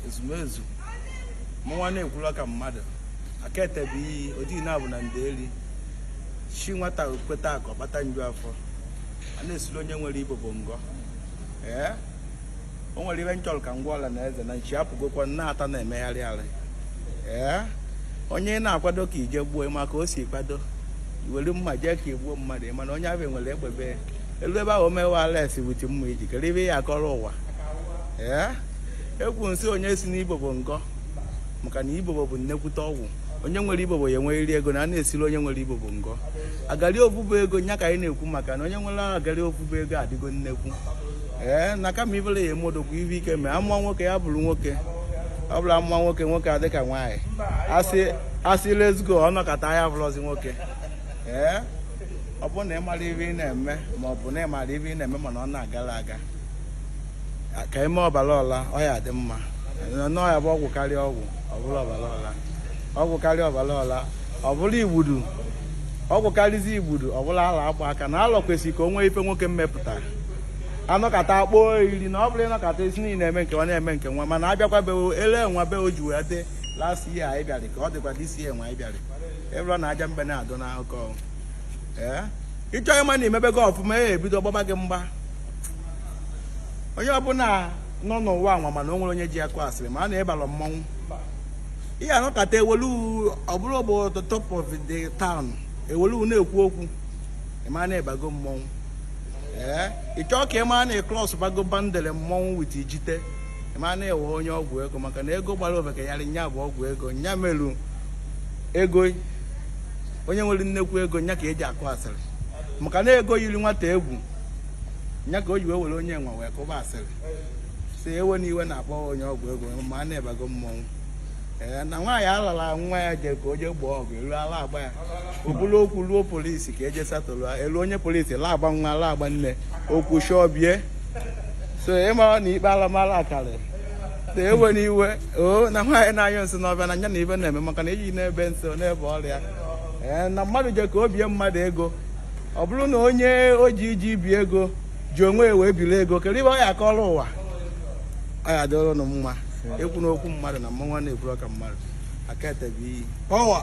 ezumezu mụnwa na-ekwula ka mmadụ aka etebe iyi ojii na-abụ na ndị eri chi nwata kweta akụ kpata nju afọ a na-esiri onye nwere ibobo ngọ ee o nwere ibe m chọrọ ka m gwa ọla na eze na nchi apụgokwa na-ata na-emegharị arị ee onye ị na-akwado ka i je gbuo ma ka o si kwado i were mma jee ka i gbuo mmadụ mana onye ahụ nwere egbe e lu ebe ahụ o mewe arrest with mma i ji kere ibe ị ya-akọrọ ụwa ekwu nsị onye si n'ibobo ngọ maka na ibobo bụ nnekwute ọgwụ onye nwere ibobo ya enweghịrị ego na a na-esiri onye nwere ibobo ngọ agari obubu ego nya ka anyị na-ekwu maka na onye nwere agari obubu ego adịgo nnekwu ee na kama ibere ya emodokwu ibe ike ma amụọ nwoke ya bụrụ nwoke ọ bụrọ a mụọ nwoke nwoke adị ka nwaanyị a sị let's go ọnọkọta ya bụrụzi nwoke ee ọ bụrụ na ị mara ibe ị na-eme ma ọ bụ na ị marọ ibe ị na-eme mana ọ na-agara aga ka i me ọbara ọla ọ ya-adị mma na ọ ya-abụ ọgwụ karịa ọgwụ ọ bụrụ ọbara ọla ọgwụ karịa ọbara ọla ọ bụrụ igbudu ọgwụ karịzi igbudu ọ bụrụ ala akpa aka na alọ kwesịrị ka o nwee ife nwoke mmepụta a nọkata akpọ iri na ọ bụrụ ị nọkata isi niile na-eme nke nwa na-eme nke nwa mana abịakwa be ele nwa be o ji wee dị last year anyị bịara ka ọ dịkwa this year nwa anyị bịara ị bụrụ nna anyị mbe na-adị n'akụkọ ee ị chọọ ịma na i mebego ọfụma ya ebido gbaba gị mgba onye ọbụla nọ n'ụwa nwa mana o nwerọ onye ji akụ asịrị ma na ị barọ mmọnwụ ihe a nọkata ewelu ọbụrụ bụ the talk of the town ewelu na-ekwu okwu ị ma na ị bago mmọnwụ ee ị chọọ ka ị ma na klọs bago bandere mmọnwụ with ijite ịma na-ewe onye ọgwụ ego maka na ego gbara ofeke yarị nya bụ ọgwụ ego nya meru ego onye nwere nnekwu ego nya ka eji akụ asịrị maka na ego yiri nwata egwu nya ka o ji wee were onye nwa wee kụba asịrị so whenever a na-akpọ onye ọgwụ ego ma na ị bago mmọnwụ ee na nwaanyị alara nwa ya jere ka o jee gbaa ọgụ elu ala agba ya e bulu okwu ruo polisi ka e je settle e lu onye polisi la agba nwa la agba nne okwu shọbie so ị mara na ikpe alamala karịrị so whenever nwaanyị na-anyụ nsị n'ọfịa na nya na ibe na-eme maka na eji n'ebe nsị n'ebe ọrịa ee na mmadụ je ka o bie mmadụ ego ọ bụrụ na onye o ji iji ibi ego ji onwe ya wee biri ego kedu ibe ọ ya-akọrọ ụwa ọ ya-adịrị ụnụ mma ekwuna okwu mmadụ na mụnwa na-ekwuru ọka mmadụ aka etebe iyi power